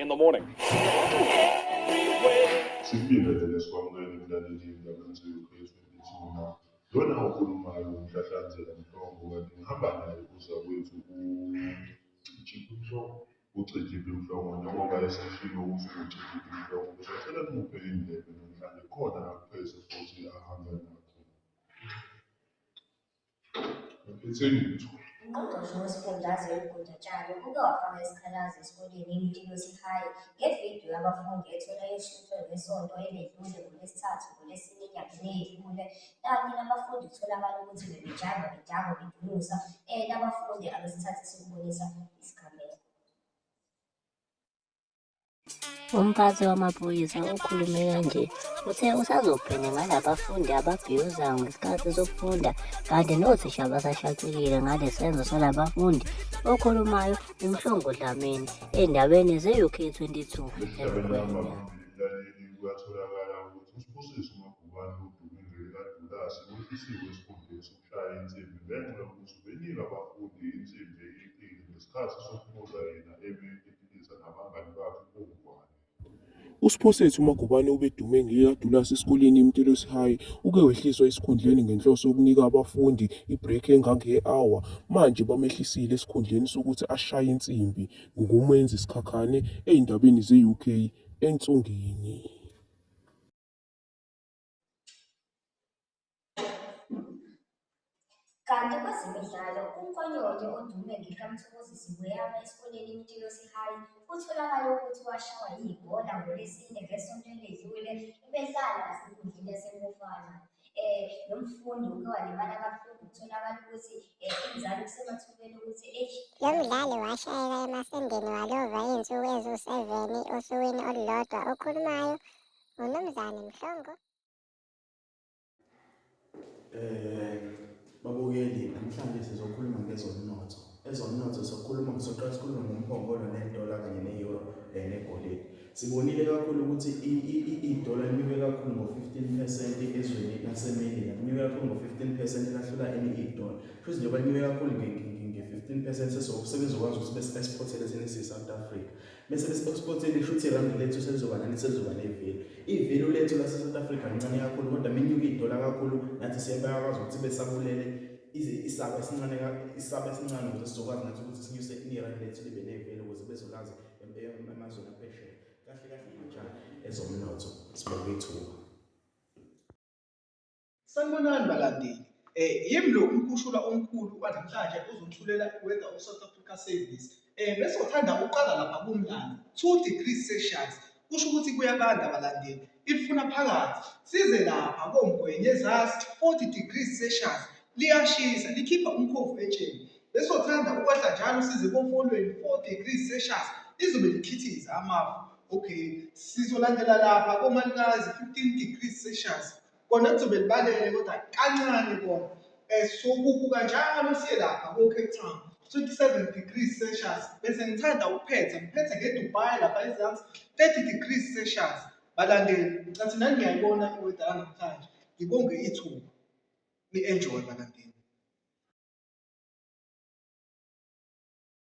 in the morning. Simbingelele sikwamukele mlaleli ndabaniso yoKristu ithuna. Lona okhulumayo umhlahlanzela mhlongo kanti ngihamba naye uza kwethu uChiphi Mhlongo. Ucijile uNhlongo njengoba eseshilo ukuthi ucijile uNhlongo ngizocela nimuphe indlebe namhlanje khona akupheze futhi ahambe nakho. Ngiphethe lutho. Ungqongqoshe wesifundazwe uGuda Tshali uke wafaka isikhalazo esikoleni iMtilosi High ngevidiyo yabafundi etholakeshutshwe ngesonto eledlule ngoLwesithathu ngoLwesine enyakeni eyedlule kanti nabafundi kutholakala ukuthi bebejava bejava bedunusa um nabafundi abesikhathi sokubonisa isigameko Umphathi wamaphoyisa okhulume kanje uthe usazobhena ngalabafundi ababhiyoza ngesikhathi sokufunda kanti nothisha basashaqekile ngale senzo salabafundi okhulumayo uMhlongo Dlamini endabeni ze-UK 22 Lesihlabelelo amabili laleli kuyatholakala ukuthi uSibusiso Ubani uDumi Ngxele kaDudasi wehlisiwe esikhundleni sokushaya insimbi ngenxa yokuthi ubenike abafundi insimbi eyeqile ngesikhathi sokubuza yena ebe ediliza nabangani bakhe koNgwane. USiphosethu Magubane obedume ngekaDulasi esikoleni iMtelosi High uke wehliswa esikhundleni ngenhloso yokunika abafundi i-break engange-hour. Manje bamehlisile esikhundleni sokuthi ashaye insimbi ngokumenza isikhakhane ey'ndabeni ze-UK ensongeni. Kanti kwezemidlalo unkonyonyo odume ngekamthokozisi weyama esikoleni imtilosi High kutholakale ukuthi washawa yibhola ngolesine ngesonto eledlule ebedlala nasenkundleni yasemufana um eh, lo mfundi uke walimala kabuhlungu kutholakala ukuthi um inzalo kusemathubeni ukuthi eyi lo mdlali washayeka emasendeni walova iy'nsuku eziwu-seveni osukwini olulodwa okhulumayo Unumzane Mhlongo. Eh babukeli namhlanje sizokhuluma ngezomnotho. Ezomnotho sokhuluma ngisoqala sikhuluma ngomphongolo nedola kanye ne-euro eh, negolide. Sibonile kakhulu ukuthi idola linyuke kakhulu ngo-15% ezweni laseMelika. Linyuke kakhulu ngo-15% lahlula enye idola. Futhi njengoba linyuke kakhulu nge-15% sesokusebenza ukwazi ukuthi bese-exportele thina siyi-South Africa. Bese besiphothiphothe lisho ukuthi irandi lethu selizoba nani selizoba neveli. Ivelu lethu lase-South Africa lincane kakhulu kodwa menyuka idola kakhulu nathi siyabakwazi ukuthi besabulele isaba esincane isaba esincane ukuze sizokwazi nathi ukuthi sinyuse irandi lethu libe neveli ukuze bezolazi emazweni aphesheya. Kahle kahle intsha ezomnotho sibeke ithuba. Sanibonani balandeli. Eh yimi lo umkhushulwa omkhulu kwanamhlanje uzothulela iwenza uSouth Africa Service. Eh bese uthanda ukuqala lapha kumlando 2 degrees Celsius. Kusho ukuthi kuyabanda balandeli. Ifuna phakathi. Size lapha koMgwenye Zas 40 degrees Celsius. Liyashisa likhipha umkhovu etsheni. Bese uthanda ukwehla njalo size kofolweni 4 degrees Celsius. Lizobe likhithiza amafu. Okay, sizolandela lapha koMalikazi 15 degrees Celsius. kona kuzobe libalele kodwa kancane kona um so kubuka njalo siye lapha ko-cape town 27 degrees celsius bese ngithanda ukuphetha ngiphethe ngedubai lapha ezansi 30 degrees celsius balandeli ngicathi nani ngiyayibona iweda yanamhlanje ngibonge ithuba ni-enjoy balandeli